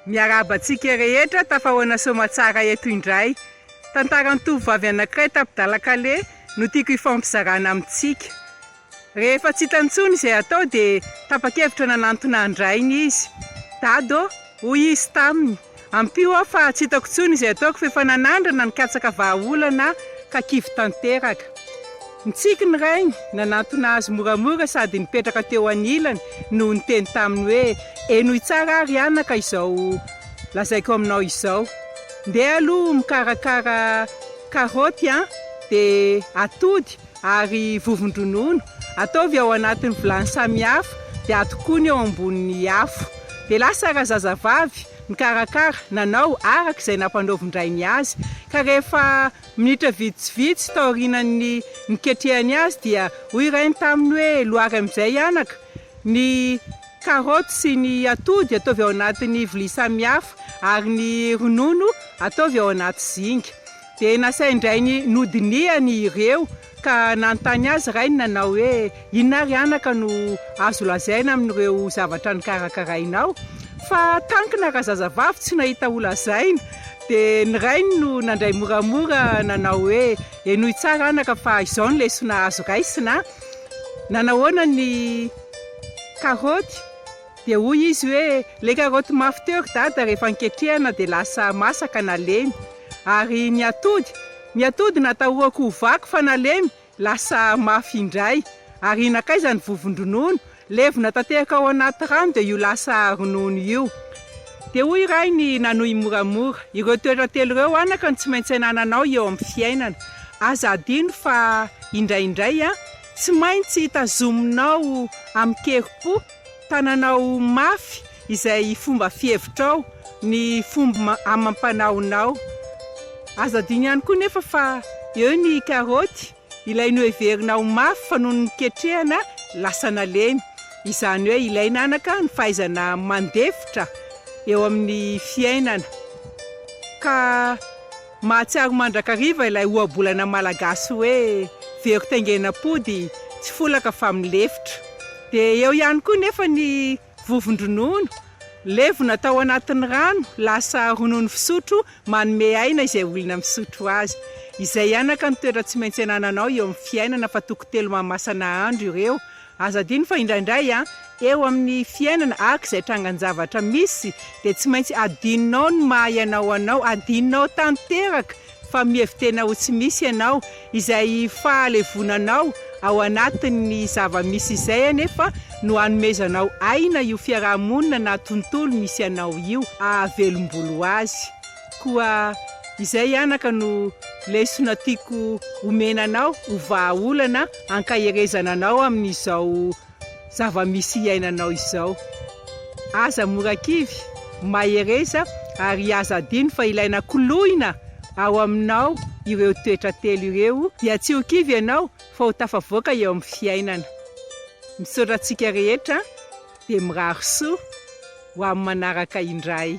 Miarahaba antsika rehetra tafahoana soamatsara eto indray. Tantaran'ny tovovavy anankiray tapi-dalan-kaleha no tiako hifampizarana amintsika. Rehefa tsy hitany intsony izay hatao dia tapa-kevitra nanantona an-drainy izy. Dado, hoy izy taminy, ampio aho fa tsy hitako intsony izay ataoko fa efa nanandrana ny katsaka vahaolana aho ka kivy tanteraka. Nitsiky ny rainy, nanantona azy moramora sady nipetraka teo anilany no niteny taminy hoe, Henoy tsara àry anaka izao lazaiko aminao izao. Ndeha aloha mikarakara karaoty an! Dia atody, ary vovon-dronono, ataovy ao anatin'ny vilany samihafa dia atokony eo ambonin'ny afo. Dia lasa razazavavy nikarakara, nanao araka izay nampanaovin-drainy azy, ka rehefa minitra vitsivitsy taorianan'ny niketrehany azy dia hoy irainy taminy hoe, Lohary amin'izay anaka ny karoty sy ny atody ataovy ao anatin'ny vilia samihafa, ary ny ronono ataovy ao anaty zinga. Dia nasain-drainy nodinihany ireo, ka nanontany azy rainy nanao hoe, Inona ary anaka no azo lazaina amin'ireo zavatra nokarakarainao? Fa tankina raha zazavavy tsy nahita ho lazaina. Dia ny rainy no nandray moramora nanao hoe, Henoy tsara anaka fa izao ny lesona azo raisina, Nanahoana ny karaoty? Dia hoy izy hoe, Ilay karaoty mafy teo ry Dada rehefa niketrehana dia lasa masaka nalemy. Ary ny atody? Ny atody natahorako ho vaky fa nalemy, lasa mafy indray. Ary nankaiza ny vovon-dronono? Levona tanteraka ao anaty rano dia io lasa ronono io. Dia hoy i Rainy nanohy moramora, Ireo toetra telo ireo anaka no tsy maintsy anananao eo amin'ny fiainana. Aza adino fa indraindray, tsy maintsy tazominao amin-kerim-po. Tananao mafy izay fomba fihevitrao, ny fomb amam-panaonao. Azo adino ihany koa nefa fa eo ny karaoty, ilay noheverina ho mafy fa nony niketrehana lasa nalemy. Izany hoe ilaina anaka ny fahaizana mandefitra eo amin'ny fiainana ka. Mahatsiaro mandrakariva ilay ohabolana malagasy hoe, very taingenam-pody, tsy folaka fa milefitra. Dia eo ihany koa nefa ny vovon-dronono, levona atao anatin'ny rano, lasa ronono fisotro manome aina izay olona misotro azy. Izay anaka ny toetra tsy maintsy anananao eo amin'ny fiainana fa toko telo mahamasana andro ireo, Aza adino fa indraindray an, eo amin'ny fiainana araka izay trangan-javatra misy dia tsy maintsy adinonao ny maha ianao anao, adinonao tanteraka fa mihevi-tena ho tsy misy ianao, izay fahalevonanao ao anatin'ny zava-misy izay anefa no hanomezanao aina io fiaraha-monina na tontolo misy anao io, ahavelom-bolo azy. Koa izay anaka no lesona tiako omena anao ho vahaolana ankaherezana anao amin'izao zava-misy iainanao izao. Aza mora kivy, mahereza ary aza adino fa ilay nakoloina ao aminao ireo toetra telo ireo dia tsy ho kivy ianao fa ho tafavoaka eo amin'ny fiainana. Misaotra antsika rehetra dia mirary soa ho amin'ny manaraka indray.